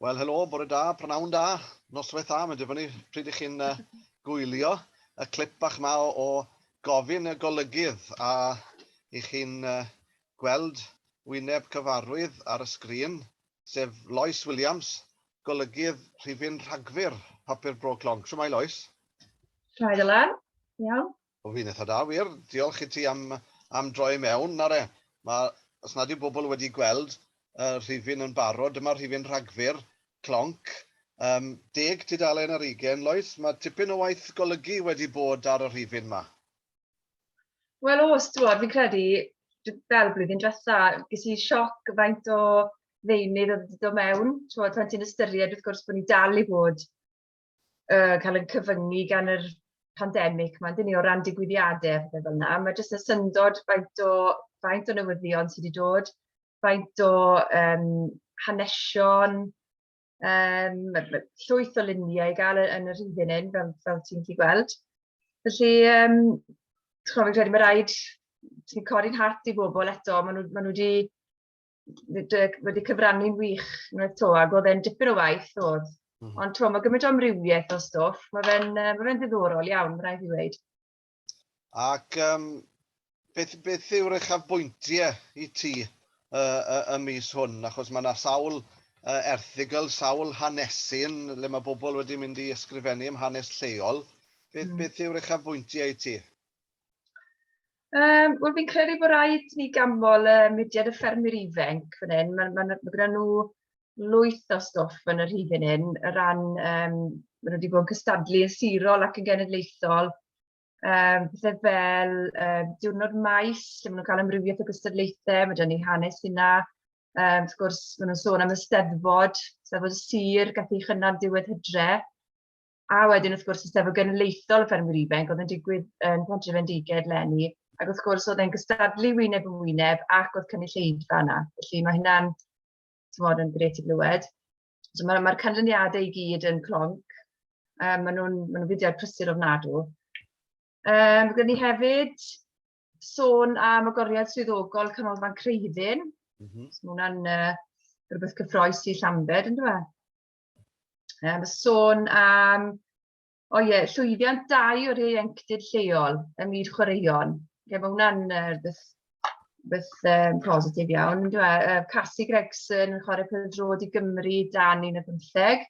Wel, helo, bore da, prynhawn da, noswaith da, mae'n dibynnu pryd i chi'n uh, gwylio y clip bach ma o, o gofyn y golygydd a i chi'n uh, gweld wyneb cyfarwydd ar y sgrin, sef Lois Williams, golygydd rhifyn rhagfyr Papur Bro Clonc. Siwmai, Lois? Siwmai, Dylan. Iawn. O fi'n eitha da wir, diolch i ti am am droi mewn ar e. Ma, os nad yw bobl wedi gweld y rhifyn yn barod, dyma'r rhifyn Rhagfyr, clonc. Yym, deg tudalen ar ugain, Lois, ma' tipyn o waith golygu wedi bod ar y rhifyn 'ma. Wel o's, t'mod, fi'n credu, fel blwyddyn dwetha, ges i sioc faint o ddeunydd oedd wedi dod mewn, t'mod, pan ti'n ystyried wrth gwrs bod ni dal i fod uh, cael yn cyfyngu gan yr pandemig mae'n dyn ni o ran digwyddiadau a fel yna. Mae jyst y syndod faint o, faint o newyddion sydd wedi dod, faint o um, hanesion, um, llwyth o luniau i gael yn yr hyn hyn, fel, fel ti'n chi gweld. Felly, um, ti'n gwybod, fi'n credu mae rhaid ti'n codi'n hart i bobl eto, maen nhw, maen nhw wedi dy wedi cyfrannu'n wych unwaith 'to ac oedd e'n dipyn o waith oedd. Mm. Ond t'mo' ma' gymaint o amrywiaeth o stwff, ma' fe'n yy ma' fe'n ddiddorol iawn, ma' raid fi weud. Ac um, beth, beth yw'r uchafbwyntiau i ti uh, uh, y mis hwn? Achos mae yna sawl uh, erthigol, sawl hanesy'n le mae bobl wedi mynd i ysgrifennu am hanes lleol. Beth, mm. beth yw'r uchafbwyntiau i ti? Um, Wel, fi'n credu bod rhaid ni gamol y uh, mudiad y ffermwyr ifanc fan hyn. Mae ma, ma gyda nhw lwyth o stwff yn yr hyn hyn, y ran, um, maen nhw wedi bod yn cystadlu yn sirol ac yn genedlaethol, um, pethau fel um, diwrnod maes, lle maen nhw'n cael amrywiaeth o gystadlaethau, mae gen i hanes hynna, um, wrth gwrs, maen nhw'n sôn am y steddfod, steddfod y sir, gath ei chynnal diwedd hydre, A wedyn wrth gwrs y Steddfod Genedlaethol y Ffermwyr Ifanc oedd yn digwydd yn Pontrefendiged leni, ac wrth gwrs oedd e'n gystadlu wyneb yn wyneb ac oedd cynulleidfa yna. Felly mae hynna'n, ti'n modd, yn gret i glywed. So mae'r ma canlyniadau i gyd yn clonc. Um, maen nhw'n ma nhw fudiad prysur ofnadw. Um, Gwyd ni hefyd sôn am agoriad swyddogol Canolfan Creiddyn. Mm -hmm. So mae hwnna'n uh, rhywbeth cyffroes i Llambed, yn dweud? Um, sôn am, o ie, llwyddiant dau o'r ieuenctid lleol ym myd chwaraeon. Ie, mae hwnna'n uh, beth um, positif iawn. Dwi, uh, Cassie Gregson yn chwarae pêl drod i Gymru dan un o bymtheg,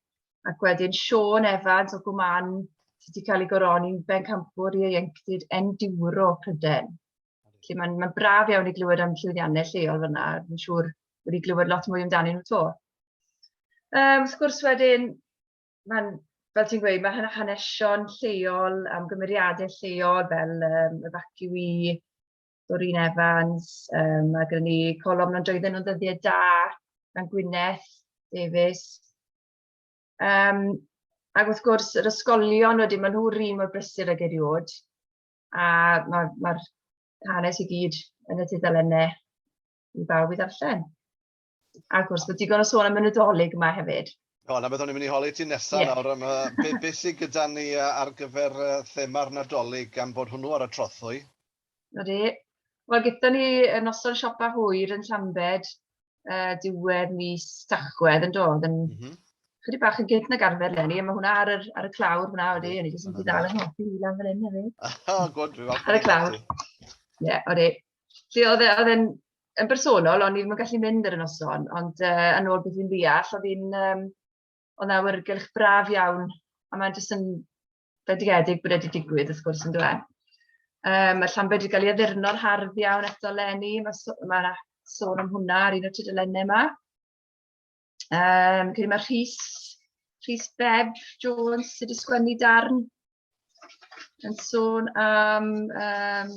ac wedyn Sean Evans o Gwman sydd wedi cael ei goroni'n bencampwr i ieuenctid enduro Pryden. Felly mae'n ma braf iawn i glywed am llwyddiannau lleol fyna, fi'n siŵr wedi glywed lot mwy amdanyn nhw to. Yym, wrth gwrs wedyn, mae'n, fel ti'n gweud, mae hanesion lleol am gymeriadau lleol fel um, y faciwi, Doreen Evans, um, mae gen ni colofn ond doedden nhw'n ddyddiau da, gan Gwyneth Davies. Um, ac wrth gwrs, yr ysgolion wedyn, maen nhw'r un mor brysur ag eriod, a mae'r ma, ma hanes i gyd yn y tudalennau i bawb i ddarllen. A gwrs, mae digon o sôn am y Nadolig yma hefyd. O, na beth o'n i'n mynd i holi ti nesaf yeah. nawr. Mae be, be sydd gyda ni ar gyfer thema'r Nadolig gan bod hwnnw ar y trothwy? Ydy. Wel, gyda ni y noson siopa hwyr yn Llambed uh, diwedd mis Tachwedd yn dod. Yn, mm -hmm. Chydig bach yn gynt nag arfer lenni, a mae hwnna ar, yr, ar y clawr fyna wedi, o'n i jyst yn dal yn hoffi i lan fan hyn hefyd. O, gwrdd, dwi'n falch. Ar y clawr. Ie, yeah, oeddi. 'lly oedd e oedd e'n yn bersonol, o'n i ddim yn gallu mynd ar y noson, ond yy yn ôl beth fi'n ddeall, oedd hi'n yym oedd 'na awyrgylch braf iawn, a mae jyst yn fendigedig bod e 'di digwydd wrth gwrs yndyw e? Yym ma' Llanbed 'di cael ei addurno'n hardd iawn eto leni, ma' so- ma' 'na sôn am hwnna ar un o'r tudalenne 'ma. Um, Cyn mae Rhys, Rhys Beb Jones sydd wedi sgwennu darn yn sôn am... Um,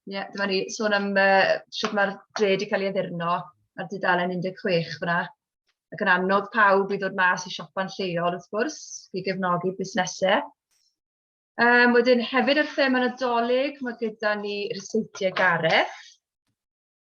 Ie, yeah, dyma ni, sôn am uh, sut mae'r dre wedi cael ei addurno ar dudalen 16 fyna. Ac yn annog pawb i ddod mas i siopa'n lleol, wrth gwrs, i gefnogi busnesau. Um, wedyn, hefyd ar thema nadolig, mae gyda ni Ryseitiau Gareth,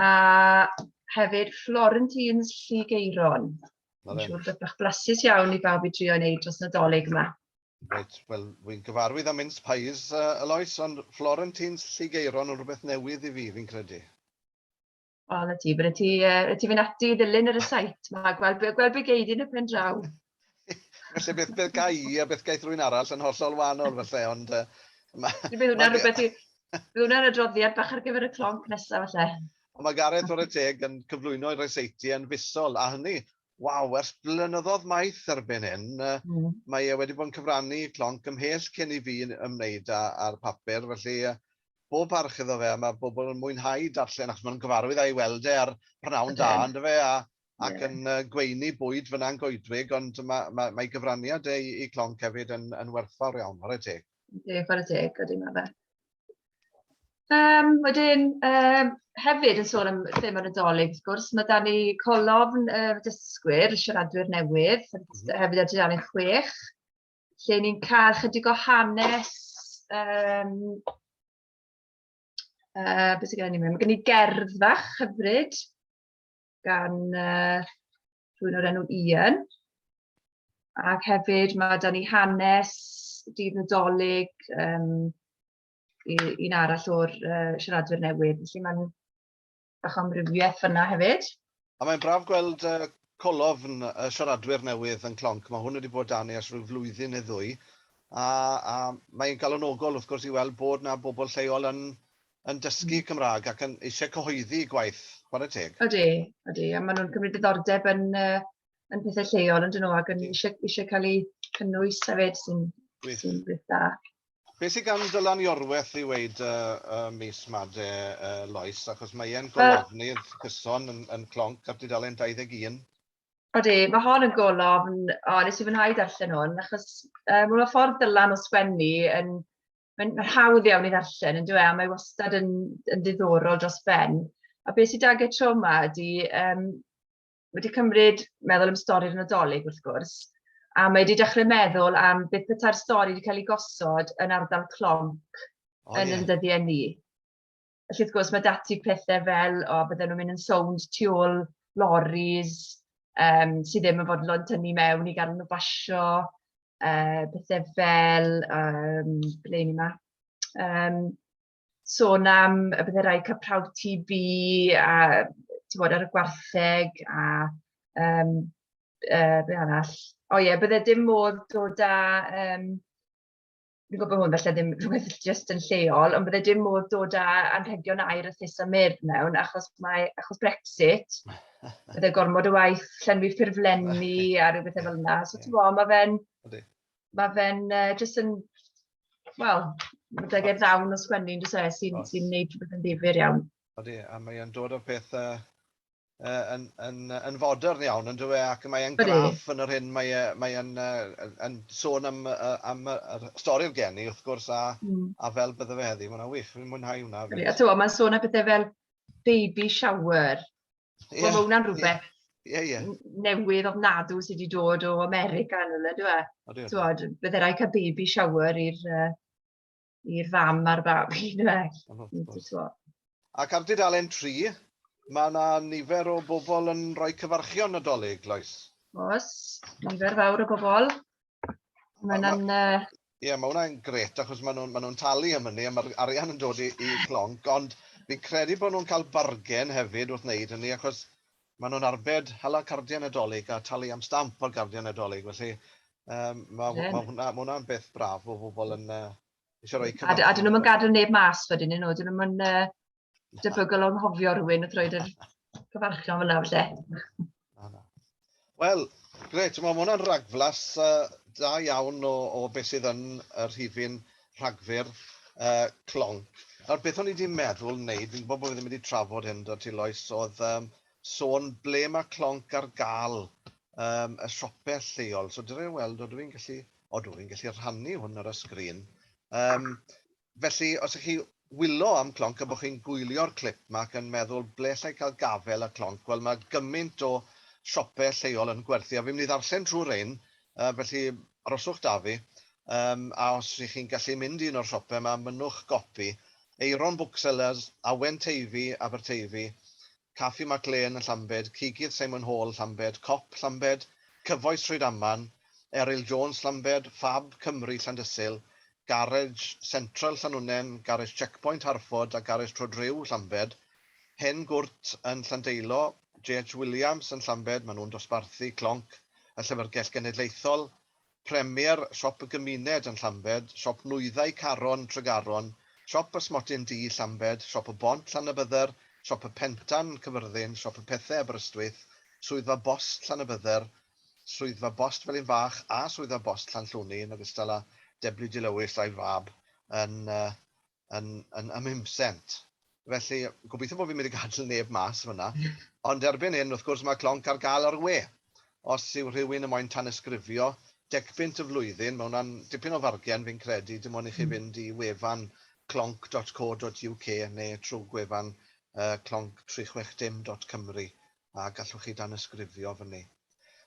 a hefyd Florentines Lligeiron. Mae'n siŵr beth bach blasus iawn i bawb i drio wneud dros Nadolig yma. Reit, wel, wy'n gyfarwydd am mince pies, uh, Alois, ond Florentines Lligeiron yn rhywbeth newydd i fi, fi'n credu. O, na ti, bydde ti, uh, ti fynd ati i ddilyn yr y sait yma, gweld, gweld be geid yn y pen draw. Felly beth, beth gai i a beth gaeth rwy'n arall yn hollol wahanol felly, ond... Uh, ma, bydd hwnna'n rhywbeth i... Bydd hwnna'n adroddiad bach ar gyfer y clonc nesaf felly. Ond mae Gareth o'r teg yn cyflwyno i'r reseiti yn fusol, a hynny, waw, ers blynyddoedd maith erbyn hyn, mm. mae e wedi bod yn cyfrannu clonc ymhell cyn i fi ymwneud â'r papur, felly bob parch iddo fe, a mae bobl yn mwynhau darllen achos mae'n gyfarwydd a'i weld e ar prynhawn da, ynddo fe, a ac yn uh, gweini bwyd fyna'n goedwig, ond mae, mae, mae gyfraniad ei, ei clonc hefyd yn, yn werthfawr iawn, ar y teg. Ie, ar y teg, ydy mae fe. Um, wedyn, um, hefyd yn sôn am thema nadolig, wrth gwrs, mae da ni colofn y uh, dysgwyr, y siaradwyr newydd, mm -hmm. hefyd ar dudalen chwech, lle ni'n cael chydig o hanes um, uh, beth sy'n gen i mewn? Mae gen i gerdd fach hyfryd gan uh, rhywun o'r enw Ian. Ac hefyd mae da ni hanes dydd Nadolig um, un arall o'r uh, siaradwyr newydd. Felly mae'n bach o amrywiaeth fyna hefyd. A mae'n braf gweld uh, colofn y siaradwyr newydd yn clonc. Mae hwn wedi bod dan ni ers rhyw flwyddyn neu ddwy. A, a mae'n galonogol wrth gwrs i weld bod na bobl lleol yn yn dysgu Cymraeg ac yn eisiau cyhoeddi eu gwaith, chwarae teg. Ydy, ydy, a maen nhw'n cymryd diddordeb yn, uh, yn pethau lleol yn dyn nhw ac yn eisiau, eisiau cael eu cynnwys hefyd sy'n sy beth da. Be sy'n gan Dylan Iorwerth i weid y uh, uh, mis made uh, Lois, achos mae e'n golofnydd uh, cyson yn, yn clonc ar dudalen 21. Odi, mae hon yn golofn, o, nes i fwynhau darllen hwn, achos uh, mae'n ffordd Dylan o sgwennu yn, mae'n ma hawdd iawn i ddarllen, yn dweud, a mae wastad yn, yn ddiddorol dros ben. A beth sydd dagau tro yma ydy, um, wedi cymryd meddwl am stori'r Nadolig wrth gwrs, a mae wedi dechrau meddwl am beth beta'r stori wedi cael ei gosod yn ardal clonc oh, yn yeah. yn dyddiau ni. Felly wrth gwrs mae dati pethau fel, o, bydden nhw'n mynd yn sownd tu ôl loris, um, sydd ddim yn fodlon tynnu mewn i gael nhw basio, uh, pethau fel, um, ble ni yma, um, sôn am y bydde rhaid cael prawf TB a bod ar y gwartheg a um, uh, be arall. O ie, bydde dim modd dod â um, fi'n gwybod bod hwn falle ddim rhywbeth jyst yn lleol, ond bydde dim modd dod â anrhegion air a thus a myr mewn, achos mae, achos Brexit, bydde gormod o waith llenwi ffurflenni a rhyw bethau fel yna. So ti'n gwybod, mae fe'n, mae fe'n uh, jyst yn, wel, mae deg i'r ddawn o sgwennu yn dysau sy'n sy gwneud rhywbeth yn ddifur iawn. Odi, a mae o'n dod o pethau uh, yn, yn, yn fodern iawn, yn dweud, ac mae e'n graff yn yr hyn, mae e'n mae yn, uh, yn sôn am, uh, am y, y stori'r geni, wrth gwrs, a, mm. a fel bydde fe heddi. Mae'n wych, fi'n mwynhau hwnna. Fyd. A ti'n mae'n sôn am bethau fel baby shower. Yeah, well, mae hwnna'n rhywbeth yeah, yeah, yeah. newydd ofnadw sydd wedi dod o America yn hwnna, dwi'n e? Ti'n bydde rhaid cael baby shower i'r uh, i'r fam a'r babi, yndyfe? Ac ar dudalen 3, mae yna nifer o bobl yn rhoi cyfarchion Nadolig, Lois. Os, nifer fawr o bobl. Mae yna'n... Ie, yeah, mae hwnna'n gret, achos maen nhw'n ma nhw talu am hynny, a mae'r arian yn dod i, i clonc, ond fi'n credu bod nhw'n cael bargen hefyd wrth wneud hynny, achos Maen nhw'n arbed hala cardiau Nadolig a talu am stamp ar gardiau Nadolig, felly um, mae yeah. ma hwnna, ma hwnna'n beth braf bod pobl yn uh, eisiau rhoi cyfnod. A, a dyn nhw'n gadael neb mas wedyn nhw, dyn nhw'n uh, debygol o'n hofio rhywun wrth roed yr cyfarchion fyna felly. Wel, gret, mae hwnna'n ragflas uh, da iawn o, o beth sydd yn y rhifin Rhagfyr, yy, clonc. Nawr, beth o'n i 'di meddwl wneud, fi'n gwybod bod fi ddim wedi trafod hyn 'da ti Lois, oedd yym sôn ble mae clonc ar gael yym y siope lleol. So dere weld, odw i'n gallu... odw i'n gallu rhannu hwn ar y sgrin. Yym, felly, os 'y chi Wyllo am clonc a bo chi'n gwylio'r clip ma ac yn meddwl ble allai cael gafel a clonc, wel mae gymaint o siope lleol yn gwerthu a fi'n mynd i ddarllen trwy rein yy felly aroswch da fi yym a os ych chi'n gallu mynd i un o'r siope ma mynnwch gopi, Aeron Booksellers, Awen Teifi, Aberteifi, Caffi Mac Lên, Llambed, Cigydd Simon Hall, Llambed, Cop, Llambed, Cyfoes Trwydaman, Eryl Jones, Llambed, Fab Cymru, Llandysul, Garej Central, Llanwnnen, Garej Checkpoint, Harford, a Garej Trodriw, Llambed, Hen Gwrt yn Llandeilo, JH Williams yn Llambed, maen nhw'n dosbarthu clonc y Llyfrgell Genedlaethol, Premier, Siop y Gymuned yn Llambed, Siop Nwyddau Caron, Tregaron, Siop Pysmotyn Du, Llambed, Siop y Bont, Llanybydder, Siop y Pentan, Cyfyrddin, Siop y Pethau, Aberystwyth, Swyddfa Bost Llanybydder, Swyddfa Bost Felinfach a Swyddfa Bost Llanllwni yn ogystal â Deblu Dilewis a'i fab yn yn yn ym Mhumsent. Felly, gobeithio bod fi'n mynd i gadel neb mas yn fanna. Ond erbyn hyn, wrth gwrs, mae clonc ar gael ar y we. Os yw rhywun yn moyn tanysgrifio, decpunt y flwyddyn, mae hwnna'n dipyn o fargen, fi'n credu, dim ond i chi fynd i wefan clonc dot co dot UK neu trwy gwefan yy clonc tri chwech dim dot Cymru a gallwch chi danysgrifio fyny.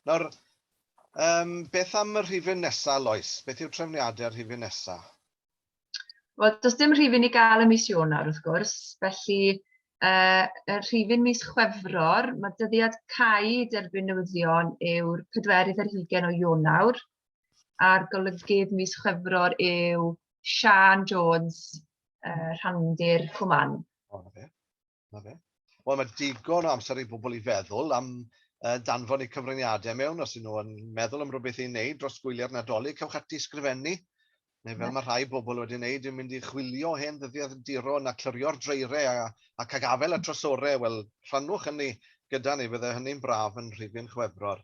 Nawr, um, beth am y rhifyn nesa, Lois? Beth yw trefniadau'r rhifyn nesa? Wel, does dim rhifyn i gael y mis Ionawr, wrth gwrs, felly uh, y rhifyn mis Chwefror, mae dyddiad cau derbyn newyddion yw'r pedwerydd ar hugen o Ionawr, a'r golygydd mis Chwefror yw Sian Jones, uh, rhandir Cwman. Oh, okay. Na fe. Wel, mae digon o amser i bobl i feddwl am uh, danfon eu cyfraniadau mewn, os ydyn nhw yn meddwl am rhywbeth i wneud dros gwyliau'r Nadolig, cewch ati sgrifennu, neu fel mae rhai bobl wedi wneud, yn mynd i chwilio hen ddyddiad duro na clyrio'r dreirau a, a cagafel a trosorau, wel, rhannwch hynny gyda ni, fydde hynny'n braf yn rhifyn chwefror.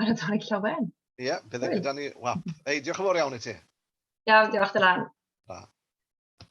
ar y dau llawen. Ie, yeah, bydd e gyda ni. Wel, ei, diolch yn fawr iawn i ti. Iawn, diolch Dylan. Da.